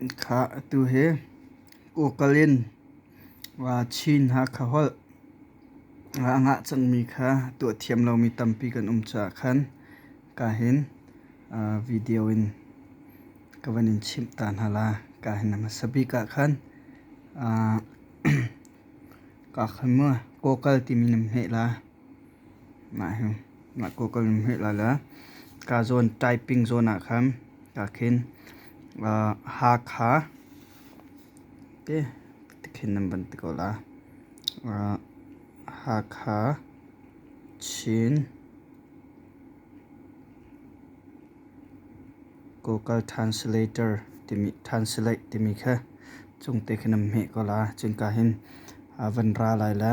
Ikhah atu hi kawkal in Chin Hakha holh a ngah cangmi kha tuah thiam lomi tampi kan um caah khan ka hin video in ka van in chimh ta hna la ka hin a hmasa bik ah khan ka kha mu kawkal timi nan hmeh la. Nak ko kan hmeh lai la. Ka zon typing zon ah khan ka khin Hakha te khin nan ban ti ko la. Hakha, Chin, Google Translator timi translate timi kha chung te khin nan hmeh ko la. Cun ka hin van ra lai la.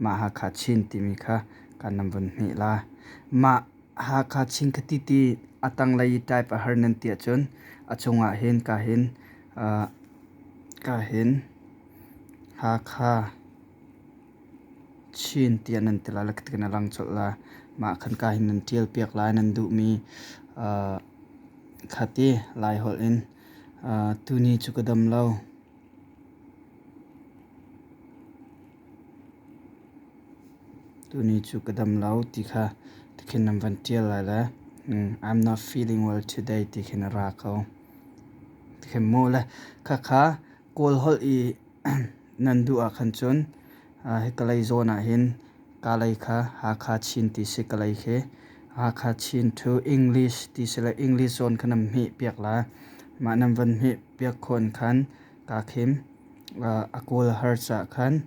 Mah Hakha Chin timi kha kan nan vun hnih la. Mah Hakha Chin ka ti ti a tanglei type a har nan ti ahcun a chungah hin ka hin uh, ka hin Hakha Chin ti nan ti la lakat kana lang chol la. Mah kan ka hin nan tial piak lai nan duhmi uh, khati lai hol in uh, tuni cu ka dam lo. Tuni cu ka dam lo ti kha ti khin nan van ṭial lai le I'm not feeling well today ti khin a ra ko. Ti khin mu le khakha Kawl holh i nan duh ah khan cun Hi Kalay zawn ahhin Kalay kha Hakha Chin ti si Kalay khi Hakha Chin to English ti si le English zawn kha nan hmeh piak la. Mah nan van hmeh piak khawn khan kaa khim a kawl har cah khan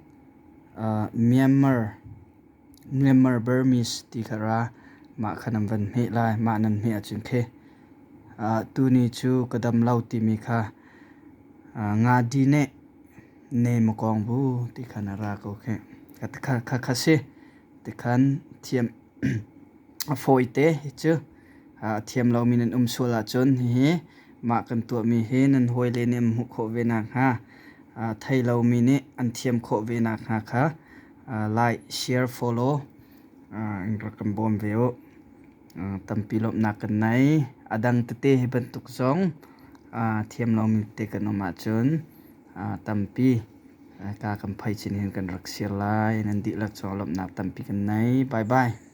Myanmar Myanmar Burmese ti kha ra mah kha nan van hmeh lai. Mah nan hmeh ahcun khi tuni cu ka damlo timi kha Nga Dine ne makawng bu ti khan a ra ko khi kha kha si ti khan thiam a fawi te hi cu a thiam lomi nan um sual ahcun hi mah kan tuahmi hi nan hawi le nih an hmuh khawh ve nak hnga thei lomi nih an thiam khawh ve nak hnga kha like share follow in rak kan bawm ve u tampi lawmhnak kan nei. A dang tete hi bantuk zong thiam lomi te kan um ahcun tampi ka kan phai chin hin kan rak sir lai. Nan dihlak cungah lawmhnak tampi kan nei. Bye bye.